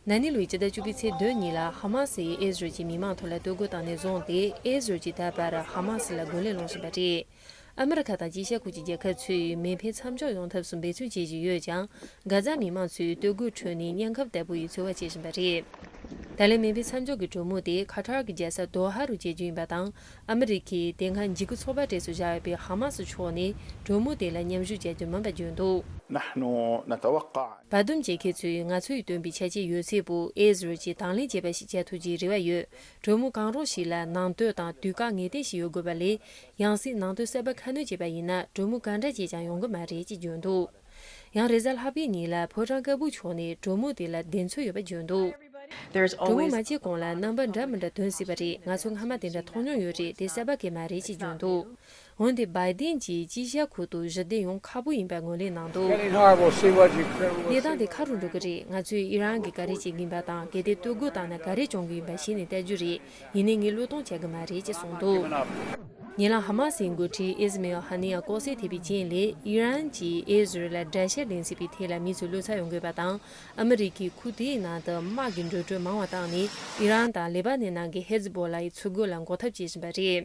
ན་ནི་ལོའི་ཕྱི་ཟླ་བཅུ་པའི་ཚེས་བདུན་ཉིན་ལ་ཧ་མ་སི་ཡིས་ཨེ་ཟི་རེལ་གྱི་མི་མང་ཐོག་ལ་བསྟོད་རྒོལ་བཏང་ནས་བཟུང་སྟེ་ཨེ་ཟི་རེལ་གྱིས་ད་བར་ཧ་མ་སི་ལ་རྒོལ་ལན་སློང་བཞིན་པ་རེད། ཨ་མི་རི་ཁ་དང་སྤྱི་ཤ་ཁུག་ཀྱི་རྒྱལ་ཁབ་ཚོས་མེ་འཕེན་མཚམས་འཇོག་ཡོང་ཐབས་སུ་འབད་བརྩོན་བྱེད་བཞིན་ཡོད་ཀྱང་གྷ་ཛ་མི་མང་ཚོས་བསྟོད་རྒོལ་ཁྲོད་ནས་གཉན་ཁབ་དལ་པོ་ཡིས་འཚོལ་བ་བྱེད་བཞིན་པ་རེད། ད་ལན་མེ་འཕེན་མཚམས་འཇོག་གི་གྲོས་མོལ་དེ་ཁ་ཐར་གྱི་རྒྱལ་ས་དོ་ཧ་རུ་བྱེད་རྒྱུ་ཡིན་པ་དང་ཨ་མི་རི་ཀའི་བདེན་ཁ་འཇིགས་སྐུལ་ཚོགས་པ་གྲས་སུ་བཞག་ཡོད་པའི་ཧ་མ་སི་ཕྱོགས་ནས་གྲོས་མོལ་དེ་ལ་མཉམ་ཞུགས་བྱ་རྒྱུ་མིན་པ་བརྗོད་འདུག། བར་འདུམ་བྱེད་མཁན་ཚོས་ང་ཚོ་ཡིས་བཏོན་པའི་བྱས་རྗེས་ཡོད་ཚད་བུ་ཨེ་ཟི་རེལ་གྱིས་དང་ལེན་བྱེད་པ་ཞིག་བྱ་ཐུབ་རྒྱུའི་རེ་བ་ཡོད། གྲོས་མོལ་གང་རུང་ཞིག་ལ་ནང་དོད་དང་དུས་བཀག་ངེས་གཏན་ཞིག་ཡོད་དགོས་པ་ལས། ཡང་སྲིད་ནང་དོན་གསལ་བར་ཁ་སྣོན་བྱས་པ་ཡིན་ན་གྲོས་མོལ་ག་འདྲ་བྱས་ཀྱང་ཡོང་གི་མ་རེད་ཅེས་བརྗོད་འདུག། ཡང་རེས་གཟའ་ལྷག་པའི་ཉིན་ལ་ཕོ་བྲང་དཀར་པོ་ཕྱོགས་ནས་གྲོ་མོ་དེ་ལ་བདེན་འཚོལ་ཡོད་པ་བརྗོད་འདུག་གྲོ་མོ་མ་བྱས་གོང་ལ་རྣམ་པ་འདྲ་མི་འདྲ་འདོན་སྲིད་པ་རེད་ང་ཚོ་སྔ་མ་དེ་འདྲ་མཐོང་མྱོང་ཡོད་རེད་དེ་གསར་པ་གས་མ་རེད་ཅེས་བརྗོད་འདུག་འོན་ཏེ་བའི་དེན་གྱིས་སྤྱི་བཤད་ཁུལ་དུ་གཞི་བདེ་ཡོང་ཁག་པོ་ཡིན་པའི་ངོས་ལེན་གནང་འདུག་གནས་སྟངས་དེ་ཁ་རུ་འགྲོ་གི་རེད་ང་ཚོས་ཨི་རན་གྱིས་ག་རེ་བྱེད་ཀྱིན་པ་དང་གལ་ཏེ་སྟོད་རྒོལ་བཏང་ན་ག་རེ་བྱུང་གི་ཡིན་པ་གཞི་ནས་བལྟ་རྒྱུ་རེད་ཡིན་ནས་ངས་བློས་གཏོང་བྱ་གི་མ་རེད་ཅེས་གསུངས་འདུག། ཉེ་ལམ་ཧ་མ་སིའི་འགོ་ཁྲིད་ཨིས་མེལ་ཧ་ནི་ཡཱ་ལྐོག་ཟས་ཐེབས་པའི་རྐྱེན་ལས་ཨི་རན་གྱིས་ཨི་ཟི་རེལ་ལ་དགྲ་ཤ་འདེང་སྲིད་པའི་ཐད་ལ་མི་ཚོས་བློ་ཚ་ཡོང་དགོས་པ་དང་ཨ་མི་རི་ཀས་ཁུག་དེའི་ནང་དུ་དམག་གི་འགྲོ་གྲོན་མང་བ་བཏང་ནས་ཨི་རན་དང་ལེ་བྷ་ནན་ནང་གི་ཧེ་ཛི་བྷོ་ལཱ་ཡི་ཚུར་རྒོལ་ལ་འགོག་ཐབས་བྱེད་བཞིན་པ་རེད།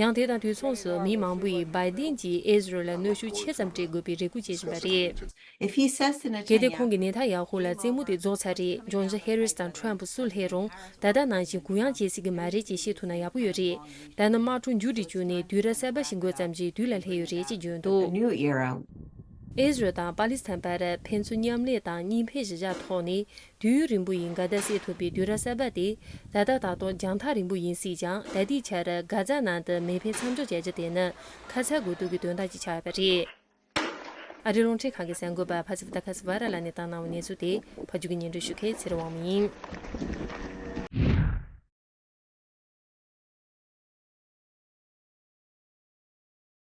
ཡང་དེ་དང་དུས་མཚུངས་སུ་མི་མང་པོས་བའི་ཏིན་གྱིས་ཨེ་ཟི་རེལ་ལ་གནོད་ཤུགས་ཆེ་ཙམ་སྤྲད་དགོས་པའི་རེ་སྒུག་བྱེད་བཞིན་པ་རེད། གལ་ཏེ་ཁོང་གིས་ནེ་ཐ་ཡ་ཧུ་ལ་རྩེད་མོ་དེ་རྫོགས་ཚར་རེས་ཇོན་ཟི་ཧེ་རིས་དང་ཁྲོན་པུ་སུ་ལྷས་རུང་ད་ལྟ་ནང་བཞིན་གུ་ཡངས་བྱེད་སྲིད་ཀྱི་མ་རེད་ཅེས་བཤད་ཐུབ་ན་ཡག་པོ་ཡོད་རེད། ད་ནི་དམག་འཁྲུག་མཇུག་འགྲིལ་བཅུག་ནས་དུས་རབས་གསར་པ་ཞིག་འགོད་ཙམ་གྱི་དུས་ལ་སླེབས་ཡོད་རེད་ཅེས་བརྗོད་འདུག། ཨེ་ཟི་རེལ་དང་པ་ལི་སི་ཐན་བར་ཕན་ཚུན་མཉམ་ལས་དང་གཉིས་ཕན་བཞི་བཞག་ཐོག་ནས་དུས་ཡུན་རིང་པོ་ཡི་འགལ་ཟླ་སེལ་ཐུབ་པའི་དུས་རབས་གསར་པ་དེ་ད་ལྟ་ད་དུང་རྒྱང་ཐག་རིང་པོ་ཡིན་སྲིད་ཀྱང་ད་ལྟའི་ཆར་སྒ་རྫ་ནང་དུ་མེ་འཕེལ་མཚམས་འཇོག་བྱ་རྒྱུ་དེ་ནི་ཁ་ཚ་དགོས་གཏུགས་ཀྱི་དོན་དག་ཅིག་ཆགས་ཡོད་པ་རེད། ཨ་རིའི་རླུང་འཕྲིན་ཁང་གི་གསར་འགོད་པ Patsy Widakuswara ལགས་ནས་བཏང་གནང་བའི་གནས་ཚུལ་དེ་བར་བརྒྱུད་སྙན་སྒྲོན་ཞུ་མཁན་ཚེ་རིང་དབང་མོ་ཡིན།